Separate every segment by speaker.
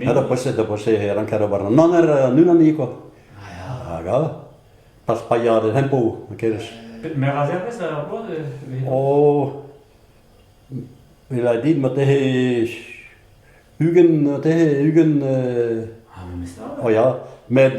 Speaker 1: Ya da pois da pois e lankad ober an aner an unani kwa. Hag all. Pas paeañ an hempo, kerez. Meur a zervez ar
Speaker 2: bloaz e
Speaker 1: Oh. Il a dit, ma tehe ugent, tehe ugent... Ah, memes Oh ya. Met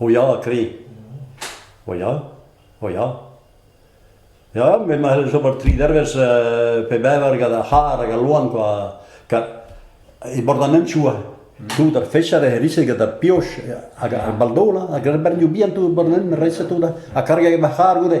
Speaker 3: O ya, kri.
Speaker 1: O ya, o ya. Ya, me ma c'hell ober tri dervezh pe bevar gant ar c'harr hag al loan kwa. E bord an hentchoù tout ar fecha re herise gant ar pioch hag ar baldola hag ar bernioù bihan tout bord an reset tout ha kargek ma c'harr goude.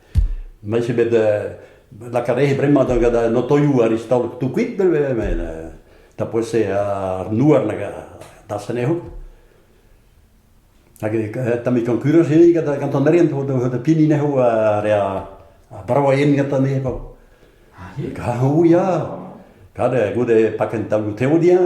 Speaker 1: Mez eo bet lakaat aze bremañ da gant an otoioù aristalek tout kuit neuze met tapez eo ar nouer nag da senehout. Hag tamm konkurañs eo gant an erien da pini neho re a bravaien gantañ eo pa. Ah oui ya. Gade goude pakenn taolioù teodiañ